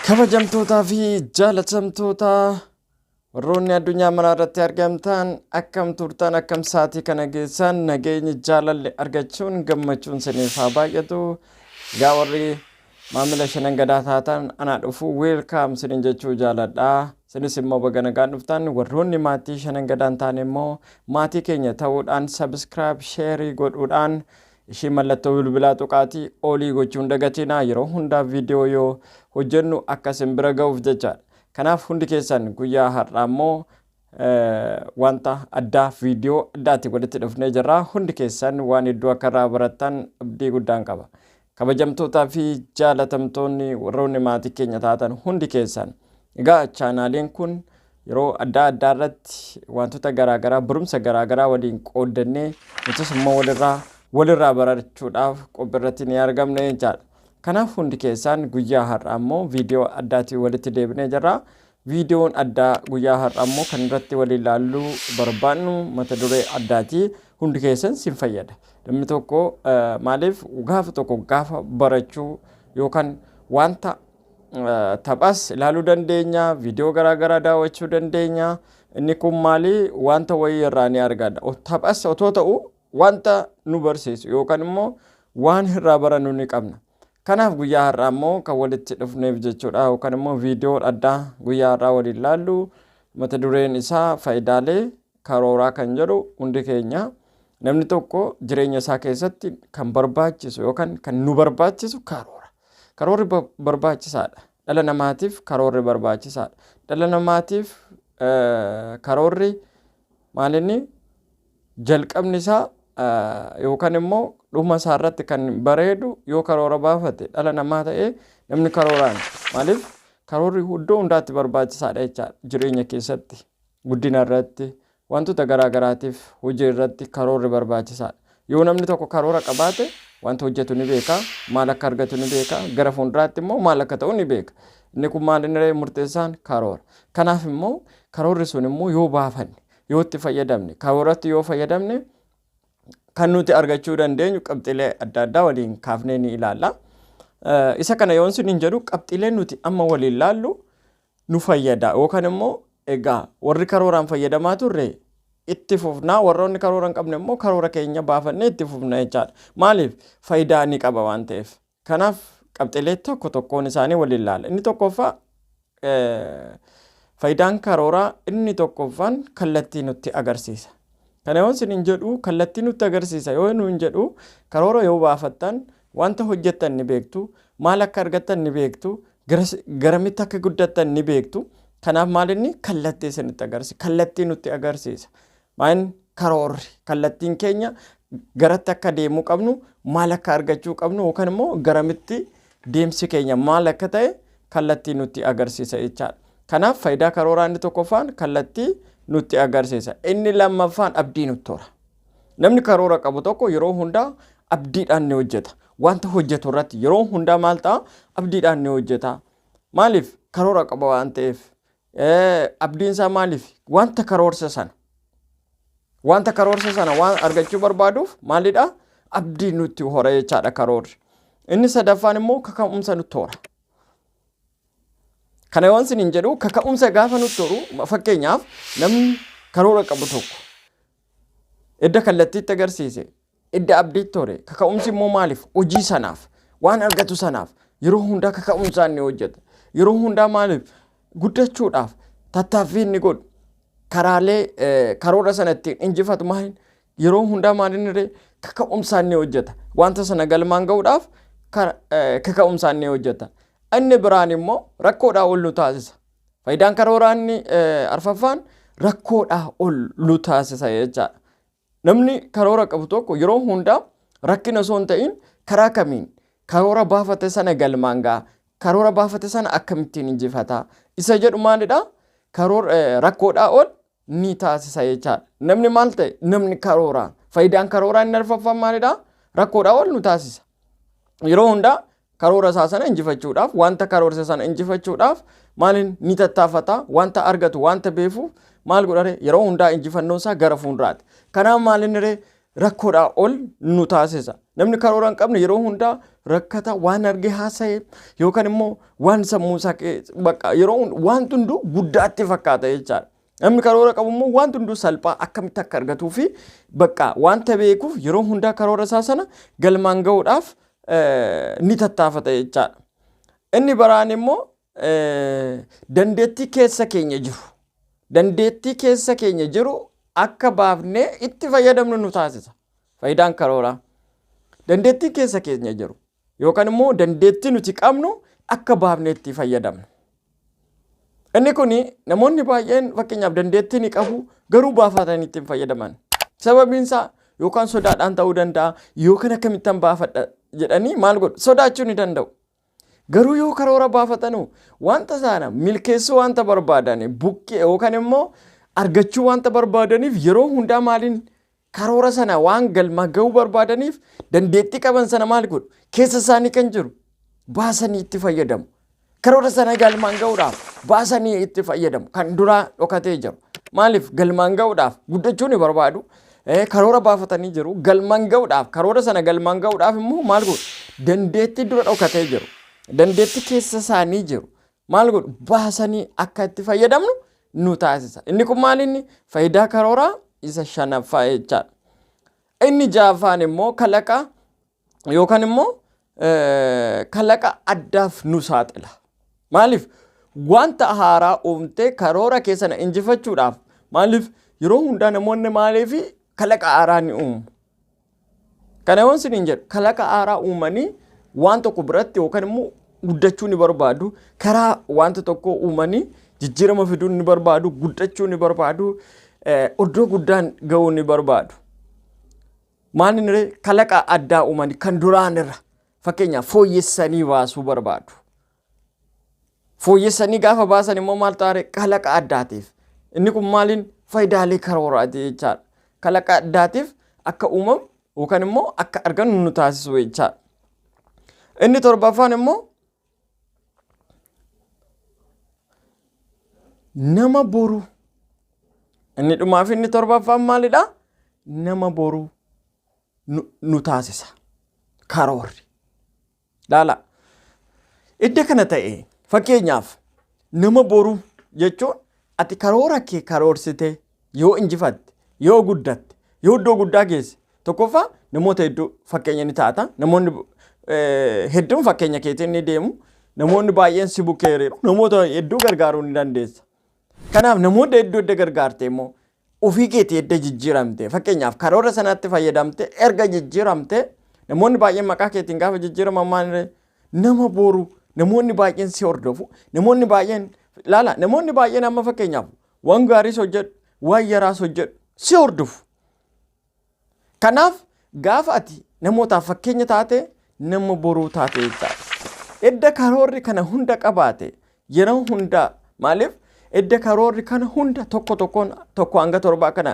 Kabajamtootaa fi jaalatamtoota Warroonni addunyaa maraa irratti argamtaan akkam turtan akkam saatii kana geessaan nageenyi jaalalli argachuun gammachuun siniif haa baay'atu gaa warri maamila shanan gadaa taatan anaa dhufu weelkaam sinin jechuu jaaladha sinis immoo baga nagaan dhuftan warroonni maatii shanan gadaan taane immoo maatii keenya ta'uudhaan sabiskiraayib sheerii godhuudhaan ishii mallattoo bilbilaa tuqaatii olii gochuun dagatinaa yeroo hundaa viidiyoo yoo hojjennu akka isin bira ga'uuf jechaadha Kanaaf hundi keessan guyyaa har'aa immoo wanta addaa viidiyoo addaatti walitti dhufnee jirra. Hundi keessan waan hedduu akka irraa barattan abdii guddaan qaba. Kabajamtootaa fi jaalatamtoonni warroonni maatii keenya taatan hundi keessan. Egaa chaanaaliin kun yeroo adda addaa irratti wantoota garaagaraa barumsa garaagaraa waliin qooddannee nutis immoo walirraa walirraa barachuudhaaf qophii irratti ni argamne jechaadha. Kanaaf hundi keessaan guyyaa har'aa immoo viidiyoo addaatiin walitti deebinee jirra. Viidiyoon addaa guyyaa har'aa immoo kan irratti waliin ilaalluu barbaannu mata duree addaati. Hundi keessan sin fayyada. Namni tokko eh, maaliif gaafa tokko gaafa barachuu yookaan wanta eh, taphas ilaaluu dandeenya, viidiyoo garaagaraa daawwachuu dandeenya. Inni kun maali wanta wayii irraa ni argata. O- Taphas otoo ta'u Wanta nu barsiisu yookan immoo waan irraa barannu ni qabna. Kanaaf guyyaa har'aa immoo kan walitti dhufneef jechuudha yookan immoo viidiyoo addaa guyyaa har'aa waliin laallu mata dureen isaa faayidaalee karooraa kan jedhu hundi keenya namni tokko jireenya isaa keessatti kan barbaachisu yookan kan nu barbaachisu karoora. Karoorri barbaachisaadha. Dhala namaatiif karoorri barbaachisaadha. Dhala namaatiif karoorri maalinni Jalqabni isaa yookaan immoo dhuma isaa irratti kan bareedu yoo karoora baafate dhala namaa ta'ee namni karooraan maaliif karoorri iddoo hundaatti barbaachisaadha jechaadha jireenya keessatti guddina irratti wantoota garaa garaatiif hojii irratti karoorri barbaachisaadha. Yoo namni tokko karoora qabaate wanta hojjetu ni beeka maal akka argatu ni beeka gara fuulduraatti immoo maal akka ta'u ni beeka. Inni kun maal inni murteessaan karoora. Kanaaf immoo karoorri sun immoo yoo baafanne yoo itti fayyadamne karoorratti yoo fayyadamne kan nuti argachuu dandeenyu qabxiilee adda addaa waliin kaafnee ni ilaalla. Isa kana yoon sin hin jedhu qabxiilee nuti amma waliin laallu nu fayyada yookaan immoo egaa warri karooraan fayyadamaa turre itti fufnaa warroonni karoora hin qabne immoo karoora keenya baafannee itti fufna jechaadha. Maaliif faayidaa ni qaba waan ta'eef. Kanaaf qabxiilee tokko tokkoon isaanii waliin ilaalla. Inni tokkoffaa faayidaan karooraa inni tokkoffaan kallattii nutti agarsiisa. Kana yoo isin hin jedhu kallattii nutti agarsiisa yoo nu hin jedhu karoora yoo baafattan wanta hojjettan ni beektu maal akka argattan ni beektu garamitti akka guddattan ni beektu kanaaf maalinni kallattii isinitti agarsiisa kallattii nutti agarsiisa Maayin karoorri kallattiin keenya garatti akka deemuu qabnu maal akka argachuu qabnu yookaan immoo garamitti deemsi keenya maal akka ta'e kallattii nutti agarsiisa jechaadha. Kanaaf faayidaa karooraa inni tokkoffaan kallattii nutti agarsiisa. Inni lammaffaan abdii nutti hora. Namni karoora qabu tokko yeroo hundaa abdiidhaan ni hojjeta. Wanta hojjetu irratti yeroo hundaa maal ta'a abdiidhaan ni hojjeta. Maaliif karoora qaba waan ta'eef Abdiin isaa maaliif? Wanta karoorse sana. Wanta karoorse sana waan argachuu barbaaduuf maalidha? Abdii nutti hora jechaadha karoorri. Inni sadaffaan immoo kaka'umsa nutti hora. Kana waan isin hin jedhu kaka'umsa gaafa nutti horu fakkeenyaaf namni karoora qabu tokko Edda kallattiitti agarsiise, edda abdiitti hore, kaka'umsi immoo maaliif? Hojii sanaaf, waan argatu sanaaf yeroo hundaa kaka'umsaa inni hojjeta. Yeroo hundaa maaliif? Guddachuudhaaf tattaaffii inni godhu karaalee eh, karoora sana ittiin injifatu maaliin yeroo hundaa maaliin irree kaka'umsaa inni hojjeta. Wanta sana galmaan ga'uudhaaf kar- eh, kaka'umsaa inni hojjeta. Inni biraan immoo rakkoodhaa ol nu taasisa. Faayidaan karooraa inni arfaffaan rakkoodhaa ol nu taasisa jechaadha. Namni karoora qabu tokko yeroo hundaa rakkina osoo hin ta'in karaa kamiin karoora baafate sana galmaan ga'a. Karoora baafate sana akkamittiin injifata. Isa jedhu maalidha? Rakkoodhaa ol ni taasisa jechaadha. Namni maal ta'e? Namni karooraan. Faayidaan karooraa inni arfaffaan maalidha? Rakkoodhaa ol nu taasisa. Yeroo hundaa karoora isaa sana injifachuudhaaf, wanta karoorse sana injifachuudhaaf maaliin ni tattaafata, wanta argatu, wanta beefuuf maal godhare yeroo hundaa injifannoon isaa gara fuulduraati. Kanaaf maal inni ree rakkoodhaa ol nu taasisa. Namni karoora hin qabne yeroo hundaa rakkata waan argee haasa'e yookaan immoo waan sammuu isaa bakka yeroo waan hunduu guddaatti fakkaata jechaadha. Namni karoora qabu immoo waan hunduu salphaa akkamitti akka argatuu fi bakka wanta beekuuf yeroo hundaa karoora isaa sana galmaan gahuudhaaf ni tattaafata jechaadha. Inni baraan immoo dandeettii keessa keenya jiru dandeettii keessa keenya jiru akka baafnee itti fayyadamnu nu taasisa. Faayidaan karooraa dandeettii keessa keenya jiru yookaan immoo dandeettii nuti qabnu akka baafnee itti fayyadamnu. Inni kun namoonni baay'een fakkeenyaaf dandeettii ni qabu garuu baafatanii itti hin fayyadaman. Sababiin isaa yookaan sodaadhaan ta'uu danda'a yookaan akkamittan baafadha jedhanii maal godhu sodaachuu ni danda'u. Garuu yoo karoora baafatan hoo? Wanta sana milkeessuu wanta barbaadan buqqee yookaan immoo argachuu wanta barbaadaniif yeroo hundaa maaliin karoora sana waan galma ga'uu barbaadaniif dandeettii qaban sana maal godhu? Keessa isaanii kan jiru baasanii itti fayyadamu. Karoora sana galmaan ga'uudhaaf baasanii itti fayyadamu. Kan duraa dhokatee jiru. Maaliif galmaan ga'uudhaaf guddachuu ni barbaadu. karoora baafatanii jiru. Galmaan ga'uudhaaf karoora sana galmaan ga'uudhaaf immoo maal godhu? Dandeettii dura dhokatee jiru. Dandeettii keessa isaanii jiru. Maal godhu? Baasanii akka itti fayyadamnu nu taasisa. Inni kun maal inni? Faayidaa karooraa isa shanaffaa jechaadha. Inni ja'affaan immoo kalaqa yookaan immoo kalaqa addaaf nu saaxila. Maaliif wanta haaraa uumtee karoora keessana injifachuudhaaf maaliif yeroo hundaa namoonni maaliif kalaqa haaraa ni uumu. Kana yoon sin hin jedhu kalaqa haaraa uumanii waan tokko biratti yookaan immoo guddachuu ni barbaadu karaa wanta tokko uumanii jijjiirama fiduu ni barbaadu guddachuu ni barbaadu iddoo guddaan ga'uu ni barbaadu. Maalin ree kalaqa addaa uumani kan duraan irra fakkeenyaaf fooyyessanii baasuu barbaadu. Fooyyessanii gaafa baasan immoo maal taare kalaqa addaatiif. Inni kun maaliin faayidaalee karooraati jechaadha. Kalaqa addaatiif akka uumamu yookaan immoo akka argannu nu taasisu jechaadha. Inni torbaffaan immoo Nama boru. Inni dhumaa fi inni torbaffaan maalidha? Nama boru nu, nu taasisa. Karoorri. Laala. Idda kana ta'e fakkeenyaaf nama boru jechuun ati karoora kee karoorsite yoo injifatte, yoo guddatte, yoo iddoo guddaa geesse tokkoffaa namoota hedduu fakkeenya ni taata. Namoonni eh, hedduun fakkeenya keetiin ni deemu. Namoonni baay'een si bukkee hiriiru. Namoota hedduu gargaaruu ni dandeessa. Kanaaf namoota hedduu edda gargaarte immoo ofii keetii edda jijjiiramte fakkeenyaaf karoora sanatti fayyadamte erga jijjiiramte namoonni baay'een maqaa keetiin gaafa jijjiiraman maaliree nama boru namoonni baay'een si hordofu namoonni baay'een laala namoonni baay'een amma fakkeenyaaf Waan gaariis hojjedhu, waan yaraas hojjedhu si hordofu. Kanaaf gaafa ati namootaaf fakkeenya taate nama boruu taate jechaadha. Edda karoorri kana hunda qabaate yeroo hundaa maaliif edda karoorri kana hunda tokko tokkoon tokko hanga torbaa kana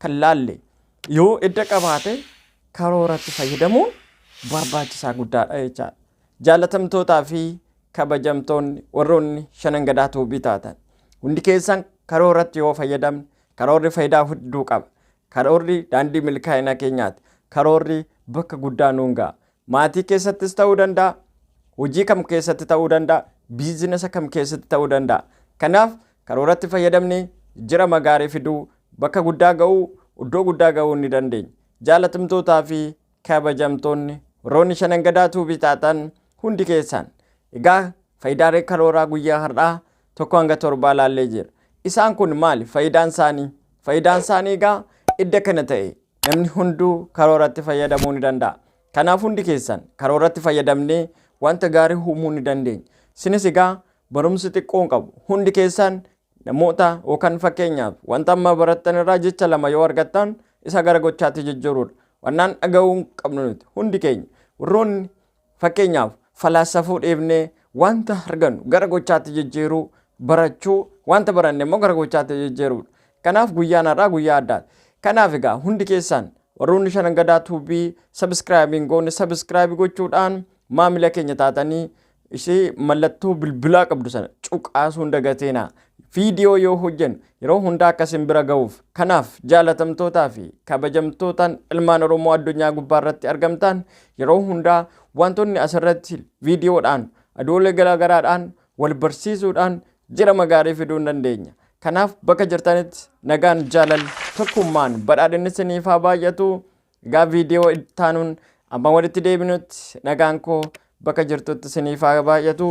kan laalle yoo edda qabaate karooratti fayyadamuun barbaachisaa guddaadha jechaadha. Jaalatamtootaa fi kabajamtoonni warroonni shanan gadaa tuubii taatan hundi keessan karooratti yoo fayyadamne karoorri faayidaa hedduu qaba. Karoorri daandii milkaa'ina keenyaati. Karoorri bakka guddaa nuun ga'a. Maatii keessattis ta'uu danda'a. Hojii kam keessatti ta'uu danda'a. Biizinasa kam keessatti ta'uu danda'a. Kanaaf karooratti fayyadamnee jira magaarii fiduu bakka guddaa ga'uu iddoo guddaa ga'uu ni dandeenya. Jaalatamtootaa fi kabajamtoonni warroonni shanan gadaa tuubii taatan hundi keessaan egaa faayidaalee karooraa guyyaa har'aa tokko hanga torbaa laallee jira isaan kun maali faayidaan isaanii faayidaan isaanii egaa idda kana ta'e namni hunduu karooratti fayyadamuu ni danda'a kanaaf hundi keessan karooratti fayyadamnee wanta gaarii uumuu ni dandeenya sinis egaa barumsi xiqqoon qabu hundi keessan Namoota yookaan fakkeenyaaf wanta amma barattan irraa jecha lama yoo argattan isa gara gochaatti jijjiiruudha. Wannaan dhaga'uu hin qabnu nuti hundi keenya warroonni fakkeenyaaf falaasafuu dhiifnee wanta argannu gara gochaatti jijjiiruu barachuu wanta baranne immoo gara gochaatti jijjiiruudha. Kanaaf guyyaan har'aa guyyaa addaati. Kanaaf egaa hundi keessaan warroonni shanan gadaa tuubii sabiskiraayibiin goone sabiskiraayibii gochuudhaan maamila keenya taatanii ishee mallattoo bilbilaa qabdu sana cuqaasuu hin dagateena. Viidiyoo yoo hojjennu yeroo hundaa akka isin bira ga'uuf. Kanaaf jaalatamtootaa fi kabajamtootaan ilmaan Oromoo addunyaa gubbaa irratti argamtaan yeroo hundaa wantoonni asirratti viidiyoodhaan adoolee garaagaraadhaan wal barsiisuudhaan jirama gaarii fiduu hin dandeenya. Kanaaf bakka jirtanitti nagaan jaalal tokkummaan badhaadhinni isiniif haa baay'atu. Egaa viidiyoo ittaanuun amma walitti deebinutti nagaan koo bakka jirtutti isiniif haa baay'atu.